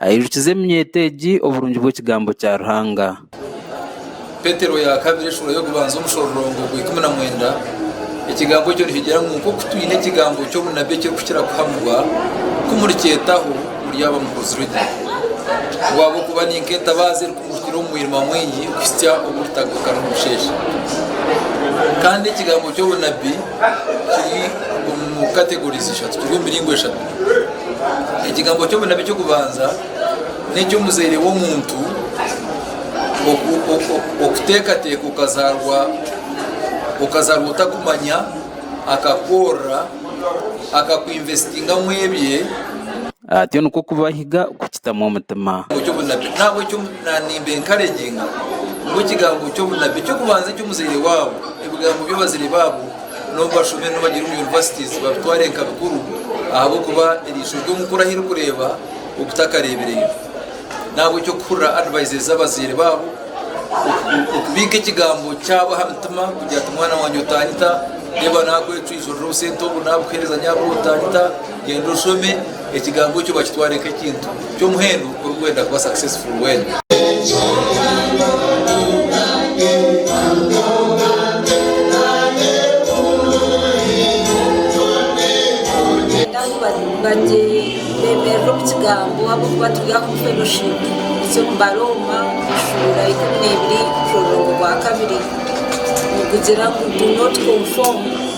Aijukize eminyeeto egi oburungi bw'Ekigambo kya Ruhanga. Petero ya Kabiri, Eshuura y'Okubanza, Omushororongo ogwa ikumi na mwenda. Ekigambo ekyo nikigira ngu nk'oku twine ekigambo ky'obunabi ekirikukira kuhamibwa, ku murikyetaho, muryaba mukozirwe gye. Ngu ahabw'okuba ni nk'etabaaza erikumurikira omu mwirima mwingi kuhitsya obu ritagarukira omu busheeshe. Kandi ekigambo ky'obunabi kiri omu kategorizi ishatu, kiri omu miringo eshatu. Ekigambo ky'obunabi eky'okubanza n'eky'omuzaire w'omuntu okuteekateeka okazaarwa okazaarwa otakumanya akakukorera akakuinvestingamu ebye Atyo nikwo kubahiga kukitamu omutima. Ekigambo ky'obunabi n'ahabw'ekyo nimba enkareginga ngu ekigambo ky'obunabi eky'okubanza eky'omuzaire waabo ebigambo by'abazaire baabo N'obu bashomire n'obu bagiire omu universities babitware nka bikuru ahabw'okuba eriisho ry'omukuru ahu ririkureeba ogu takareebireyo. N'ahabw'ekyo kuhurira advices z'abazaire baabo, okubiika ekigambo kyabo aha mitima kugira nti mwana wangye otaanyita, reeba naakwecwijurira obusente obu naabukuheereza nyabureho otaanyita. Genda oshome ekigambo ekyo bakitware nk'ekintu ky'omuhendo orikwenda kuba successful when. Nindeenda ngu bagye bemerera omu kigambo ahabw'okuba turi aha ku fellowship so omu Barooma eshuura ikumi n'ebiri omurongo gwa kabiri nigugira ngu do not conform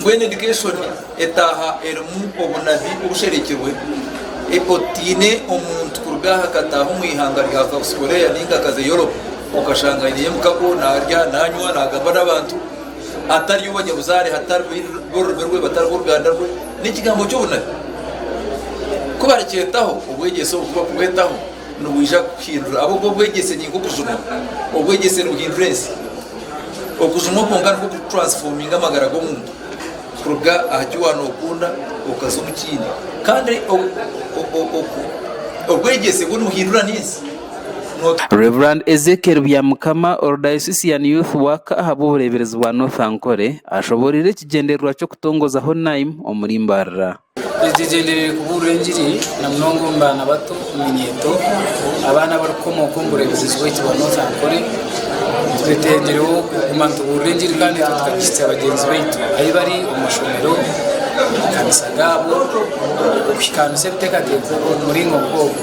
Mbwenu edikeshoni etaaha erimu obunabi obusherekirwe otiine omuntu kuruga aha kataaha omu ihanga rya South Korea nainga akaza e Europe okashanga aineyo emikago naarya naanywa naagamba n'abantu atari owanyabuzaare atari b'orurimi rwe atari b'oruganda rwe n'ekigambo ky'obunabi ku barikyetaho obwegyese obu kubakubwetaho Nibwija kukuhindura. Ahabw'okuba obwegyese ni nk'okujumwa. Obwegyese nibuhindura ensi. Okujumwa kwonka nikwo kuri kutransfominga amagara g'omuntu kuruga aha ki waaba nookunda okaza omu kindi. Kandi obwegyese bwo nibuhindura n'ensi. Rev. Ezekiel Byamukama, Orodayosisian Youth Worker ahabw'obureeberezi bwa North Ankole, ashobooroire ekigyendererwa ky'okutongozaho Naim omuri Mbarara. Nigyegyenderire kubuurira engiri na munonga omu baana bato, omu minyeeto, abaana abarikukomoka omu bureebezezi bw'eki bwa North Ankole. Nitwetengyereho kuguma nitubuurira engiri kandi tukagihitsya bagyenzi baitu ahi bari omu mashomero, omu makanisa gaabo, okuhikaanisa ebiteekateeko omu muringo nk'ogu.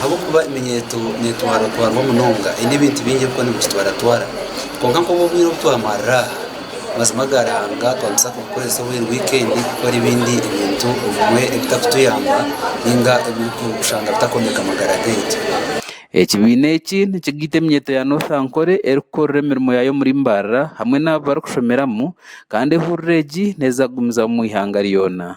Ahabw'okuba eminyeeto neetwarwatwarwa munonga, eine ebintu bingi ebirikuba nibigitwaratwara. Kwonka nk'obu obwire obu twamarire aha mazima ga Ruhanga, twambaasa kubukoresa obwire bw'eikendi kukora ebindi bintu ebimwe ebitarikutuyamba nainga ebirikushanga bitakombeka magara gaitu. Ekibiina eki nikigaita eminyeeto ya North Ankole erikukorera emirimo yaayo omuri Mbarara hamwe n'abu barikushomeramu, kandi ehurira egi neeza kugumizamu omu ihanga ryona.